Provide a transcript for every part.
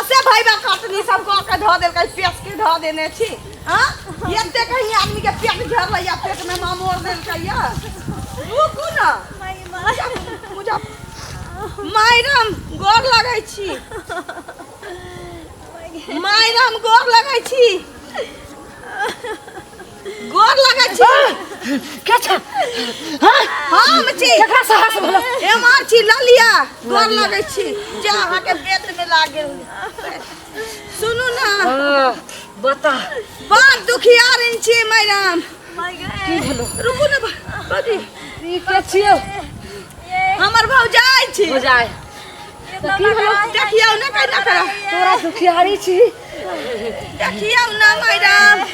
असे भाई बा कटनी सब को के धो देल कहीं पेट के धो देने छी हां एते कहीं आदमी के पेट झर लइया पेट में मां मोर देल कहिया रुकू ना माई माई मुझे मायरम गोर लगै छी मायरम गोर लगै छी गोर लगै छी के छ हां हम छी केकरा साहस भलो एमर छी ललिया गोर लगै छी जे अहाँ के पेट में लाग गेल सुनू ना बता बड़ दुखियारिन छी मैडम की भलो रुकू ना बड़ी ई के छियो हमर भौजाई छी भौजाई देखियो ना कहिना करा तोरा दुखियारी छी देखियौ ना मैडम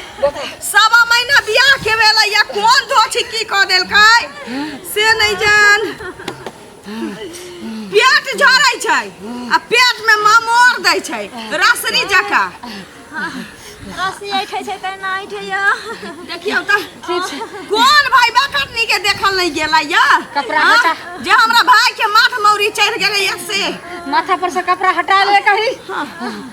सवा महीना बियाह के भेलै या कोन धोछी की कऽ देलकै से नहि जान पेट झरै छै आ पेट में ममोर दै छै रसरी जका रस्सी ऐठे छै तऽ ना ऐठे या देखियौ तऽ कोन भाई बकटनी के देखल नहीं गेला या कपड़ा हाँ? हटा। जे हमरा भाई के माथ मौरी चढ़ गेलै या से माथा पर से कपड़ा हटा ले कही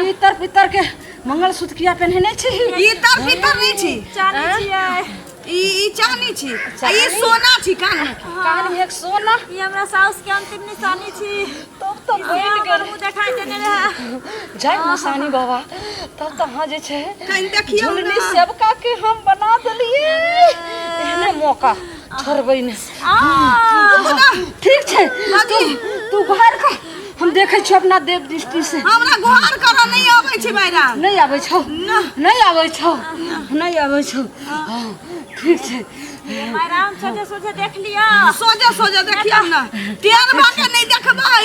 ई तर पितर के मंगलसूत्र किया पहनने छी ई तर पितर नहीं छी चानी छियै ई ई चानी छी आ ई सोना छी कान में कान में एक सोना ई हमरा साउस के अंतिम निशानी छी तब तो बन गेल मुंह देखाई देने रहे जय निशानी बाबा तब तो हां जे छै कहीं देखियो झुलनी सबका के हम बना देलिए एहने मौका छोड़बै ने ठीक छै तू तू घर का हम देखै छियौ अपना देव दृष्टि से हमरा घर करऽ नहि अबै छै मायरा नहि आबै छौ नहि आबै छौ नहि आबै छौ हँ, ठीक छै राम सोझे सोझे देख लिया सोझे सोझे देखियौ ने टेढ़ भऽ के नहि देखबै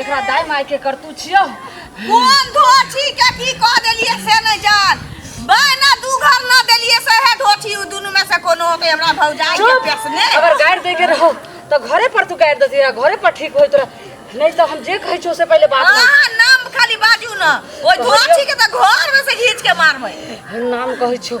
एकरा दाय माय के करतू छियो कोन धोठी के की कह देलिए से नहीं जान बहना दू घर ना देलिए से है धोठी उ दोनों में से कोनो के हमरा भौजाई के पेसने अगर गाड़ दे के रहो तो घरे पर तू गाड़ देती घरे पर ठीक होई तोरा नहीं तो हम जे कहै छो से पहले बात ना अहाँ नाम खाली बाजू ना ओइ धोठी के तो घर में से घींच के मारबै नाम कहै छो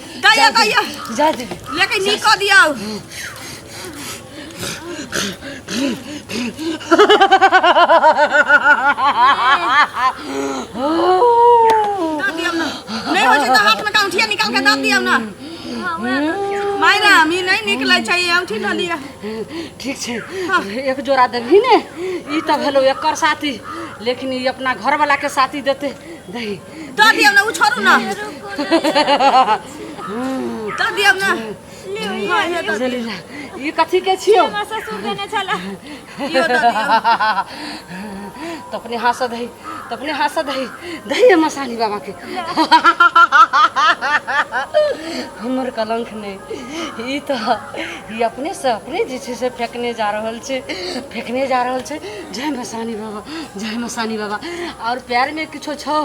गैया गैया जा दे लेके नी कह दिया दाद दिया ना नहीं हो तो हाथ में का उठिया निकाल के दाद दिया ना मायरा हम ई नहीं निकले चाहिए उठी ना लिया ठीक छै एक जोड़ा देबही ने ई तऽ भेलौ एकर साथी लेकिन ई अपना घरवला के साथी देतै दही दऽ दियौ ने उ छोड़ू ने दऽ दियौ ने हाँ, इहो दऽ दियौ। जलीला ई कथी के छियो हमरा ससुर देने छला इहो दऽ दियौ त अपने हाथ से दही त अपने हाथ से दही दही है मसानी बाबा के हमर कलंक नहीं ई त ई अपने से अपने जे छै से फेकने जा रहल छै फेकने जा रहल छै जय मसानी बाबा जय मसानी बाबा और प्यार में किछो छो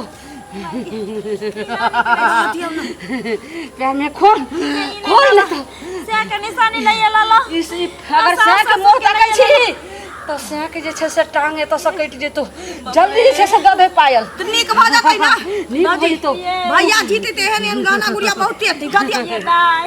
प्यार में खोल खोल ना तो से के निशानी नहीं आला ला इस ई अगर सास साँक ससुर मुँह के तकै नहीं छी तऽ साँक जे छै से टाँग एतऽ से कटि जेतौ जल्दी जे छै से गबे पायल तो नीक भऽ जेतै ना नीक भऽ जेतौ भैया जीते ते एहन एहन गाना गुड़िया बहुते अथी गदिया ये गाय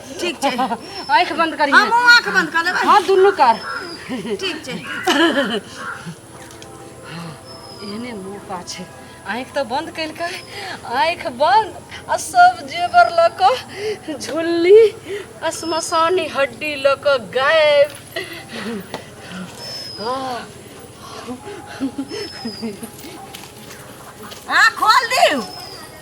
ठीक छै आँखि बंद करी हमहूँ आँख बंद कऽ लेबै हाँ दुनू कर ठीक छै एहने मौका छै आँखि तऽ बंद केलकै आँखि बंद आ सब जेवर लऽ कऽ झुल्ली आ श्मशानी हड्डी लऽ कऽ गायब हाँ आँख खोल दियौ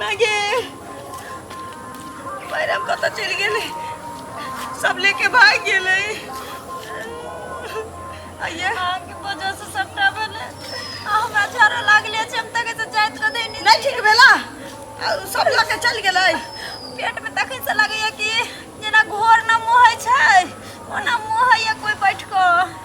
मागे मैडम कतऽ चलि गेलै सब लेके भाग गेलै आइए अहाँके वजह से सबटा भेलै आ हमरा झरो लागले छै हम तक से जाइत रह देनी नहीं ठीक भेला आ, सब लऽ के चलि गेलै पेट में तखन से लगैया कि जेना घोर न मुँह होइ छै ओना मुँह होइया कोई बैठ कऽ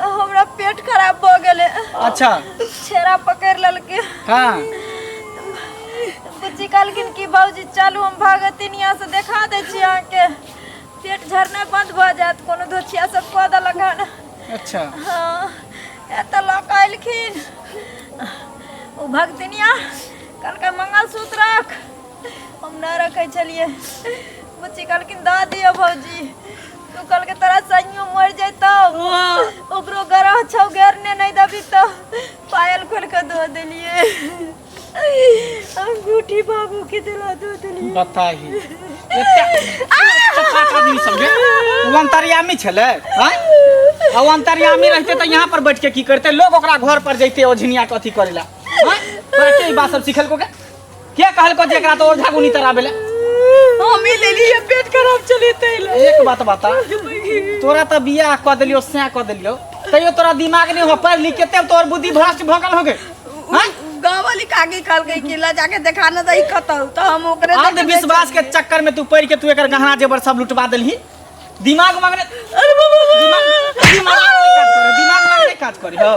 हमरा पेट खराब भ गेले अच्छा छेरा पकड़ ललके हाँ बुच्ची कहलखिन कि बाबूजी चलू हम भागतिन यहाँ से देखा दै छी अहाँके पेट झरनाइ बंद भऽ जायत कोनो धोछिया सब कऽ देलक हन अच्छा हाँ एतऽ लऽ कऽ अयलखिन ओ भगतिनिया कहलकै मंगलसूत्र रख हम नहि रखै छलियै बुच्ची कहलखिन दऽ दिअ भौजी तू कल के तरह सैयो मर जैतो ओकरो गरह छौ घेरने नहीं दबी तो पायल खोल के दो देलिए अंगूठी बाबू के दिला दो देलिए बताही आदमी समझे वो अंतर्यामी छले हाँ? आ वो अंतर्यामी रहते तो यहाँ पर बैठ के की करते लोग ओकरा घर पर जैते ओझनिया के अथी करेला हाँ? तोरा के ई बात सब सिखल को के के कहलको जे एकरा तो और झागुनी तरह भेले हम ही ले लिए पेट खराब चले तैला एक बात बता तोरा तो बियाह क देलियो सैं क देलियो तैयो तोरा दिमाग नहीं हो पढ़ लिख केते तोर बुद्धि भ्रष्ट भगल हो गए हाँ? गाँव वाली काकी कहल गई कि ला जाके देखा न दही खतल तो हम ओकरे देखे अंधविश्वास के बेचल चक्कर में तू पड़ के तू एकर गहना जेवर सब लुटवा देलही दिमाग मांगने अरे बाबा दिमाग दिमाग मांगने काज करे दिमाग मांगने काज करे हो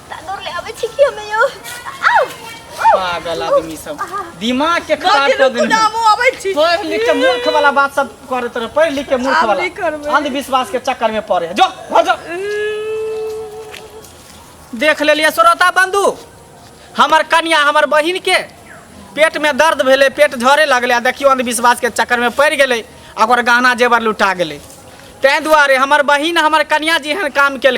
तांदूर ले आवे छी कि हमें यो पागल आदमी सब दिमाग के खराब कर देने नामो आवे छी पढ़ लिख के मूर्ख वाला बात सब करे तरह पढ़ लिख के मूर्ख वाला अंधविश्वास के चक्कर में पड़े जो हो जो देख ले लिए श्रोता बंधु हमर कन्या हमर बहिन के पेट में दर्द भेले पेट झरे लगले देखियो अंधविश्वास के चक्कर में पड़ गए और गहना जेवर लुटा गए तें दुआरे हमर बहिन हमर कन्या जी एहन काम कल